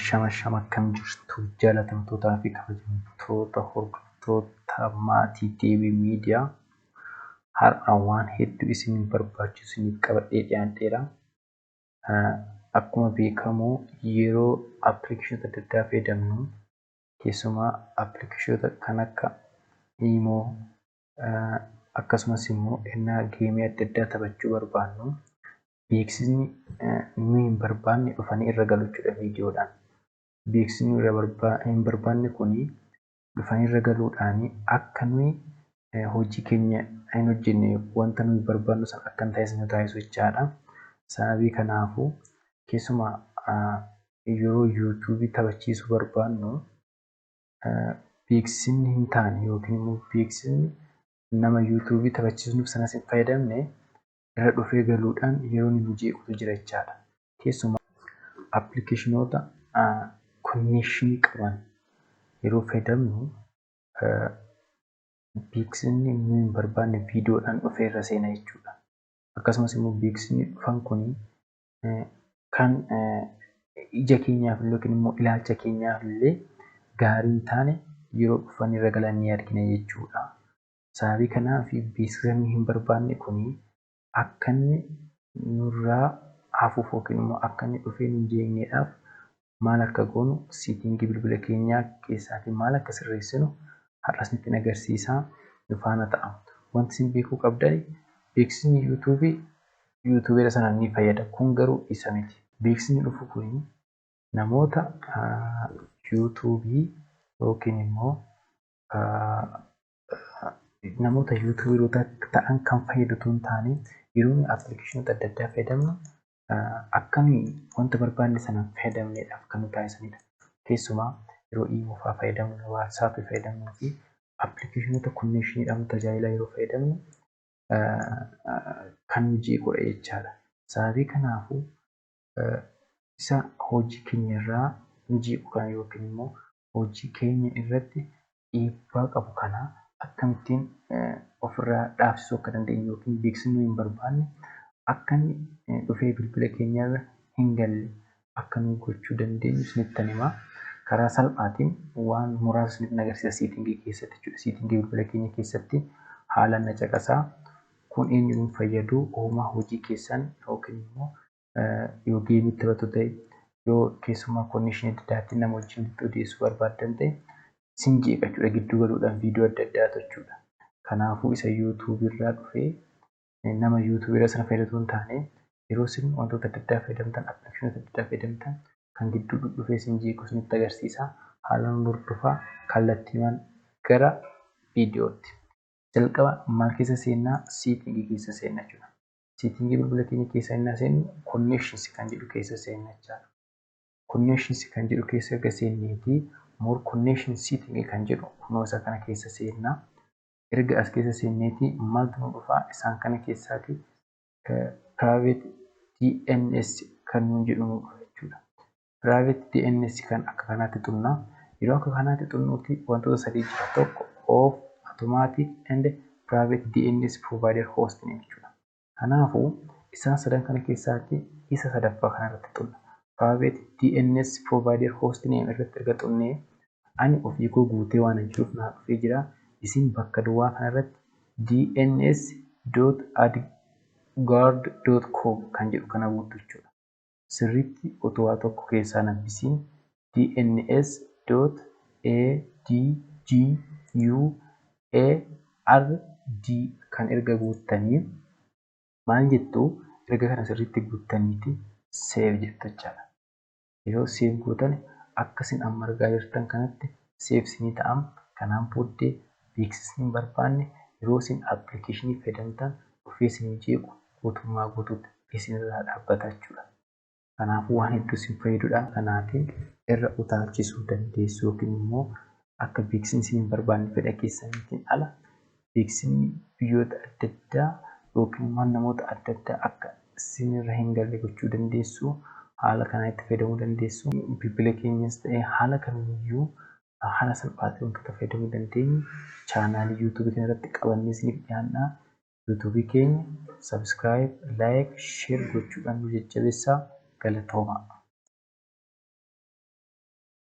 shama shama akkam jirtu jaalatamtootaa fi kabajamtoota hordoftoota maatii deebii miidiyaa har'a waan hedduu isin barbaachisu isiniif qabadhee dhiyaadheera. Akkuma beekamu yeroo appilikeeshota adda addaa fayyadamnu keessumaa appilikeeshota kan akka iimoo akkasumas immoo ennaa geemii adda addaa taphachuu barbaannu beeksisni nu hin barbaanne dhufanii irra galu jechuudha viidiyoodhaan. Beeksisni irra hin barbaanne kun dhufanii irra galuudhaan akka nuyi hojii keenya hin hojjenne wanta nuyi barbaannu san akka hin taasisne nu taasisu jechaadha. Sababii kanaafuu keessuma yeroo yuutuubii taphachiisuu barbaannu beeksisni hin taane yookiin immoo beeksisni nama yuutuubii taphachiisnuuf sanas hin fayyadamne irra dhufee galuudhaan yeroo ni mijeequtu jira jechaadha. Keessumaa appilikeeshinoota konneekshinii qaban yeroo fayyadamnu beeksisni nu hin barbaanne viidiyoodhaan dhufee irra seena jechuudha. Akkasumas immoo beeksisni dhufan kun kan ija keenyaaf illee yookiin immoo ilaalcha keenyaaf illee gaarii hin taane yeroo dhufan irra galan ni argina jechuudha. Sababii kanaaf beeksisa nuyi hin barbaanne kun akka inni nurraa hafuuf yookiin immoo akka inni dhufee nu hin jeeqneedhaaf maal akka goonu siitingii bilbila keenyaa keessaatiin maal akka sirreessinu har'as nutti hin agarsiisaa nu faana ta'a. Wanti isin beekuu qabdan beeksisni YouTube YouTubeera sana ni fayyada. Kun garuu isa miti. Beeksisni dhufu kun namoota YouTube yookiin immoo namoota yuutuuberoota ta'an kan fayyadu otoo hin taane yeroo nuyi appilikeeshinoota adda addaa fayyadamnu akka nuyi wanta barbaanne sana fayyadamneedhaaf kan nu taasisanidha. Keessumaa yeroo iimoo fa'aa fayyadamnu, waatsaappii fayyadamnuu fi appilikeeshinoota konneeshiniidhaan tajaajila yeroo fayyadamnu kan nu jeequdha jechaadha. Sababii kanaafuu isa hojii keenyarraa nu jeequ kana yookiin immoo hojii keenya irratti dhiibbaa qabu kana akkamittiin ofirraa dhaabsisuu akka dandeenyu yookiin beeksisni nuyi hin barbaanne akka inni dhufee bilbila keenya irra hin galle akka nu gochuu dandeenyu isinittan hima. Karaa salphaatiin waan muraasa isinitti agarsiisa seetingii keessatti jechuudha. Seetingii bilbila keenya keessatti haalaan na caqasaa. Kun eenyuun fayyadu homaa hojii keessan yookiin immoo yoo geemii taphatu ta'e yoo keessumaa konneeshinii adda addaatti nama wajjin itti odeessuu barbaaddan ta'e isin jeeqa jechuudha gidduu galuudhaan viidiyoo adda addaa tochuudha. Kanaafuu isa yuutuubii irraa dhufee nama yuutuubii irra sana fayyadatu hin taane yeroo isin wantoota adda addaa fayyadamtan appilikeeshinoota adda addaa fayyadamtan kan gidduu dhufee isin jeequ isinitti agarsiisa haalaan hordofaa kallattiimaan gara viidiyootti. Jalqaba maal keessa seennaa siitingii keessa seenna jechuudha. Seetingii bilbila keenya keessa innaa seennu connections kan jedhu keessa seenna jechaadha. Connections kan jedhu keessa erga seenneeti more connection setting kan jedhu kunoo isa kana keessa seenna. Erga as keessa seenneeti maaltu nu dhufaa isaan kana keessaati private DNS kan nuun jedhu nu dhufa jechuudha. Private DNS kan akka kanaatti xunna. Yeroo akka kanaatti xunnuutti wantoota sadii jira. Tokko of automatic and private DNS provider host name jechuudha. Kanaafuu isaan sadan kana keessaatti isa sadaffaa kana irratti xunna. Private DNS provider host name irratti erga xunnee ani ofii koo guutee waan hin jiruuf naa dhufee jira. Isin bakka duwwaa kana irratti dns.adguard.com kan jedhu kana guuttu jechuudha. sirriitti utuu waa tokko keessaa hin habbisiin DNSADGUARD kan erga guuttanii maal jettu erga kana sirriitti guuttaniiti save jettu jechaadha. Yeroo save gootan akka isin amma argaa jirtan kanatti saves ni ta'am kanaan booddee beeksisni hin barbaanne yeroo isin application fayyadamtan dhufee isin jeequ guutummaa guutuutti isin irraa dhaabbata jechuudha. Kanaafuu waan hedduu isin fayyadudha kanaatiin irra utaalchisuu dandeessu yookiin immoo akka beeksisni isin hin barbaanne fedha keessaniitiin ala beeksifni biyyoota adda addaa yookiin waan namoota adda addaa akka sin irra hin galle gochuu dandeessu. Haala kanaa itti fayyadamuu dandeessu. Bilbila keenyas ta'ee haala kamiyyuu haala salphaa ta'een wantoota fayyadamuu dandeenyu chaanaalii yuutuubii kana irratti qabannee isiniif dhiyaanna. Yuutuubii keenya subscribe, like, share gochuudhaan nu jajjabeessaa. Galatoomaa!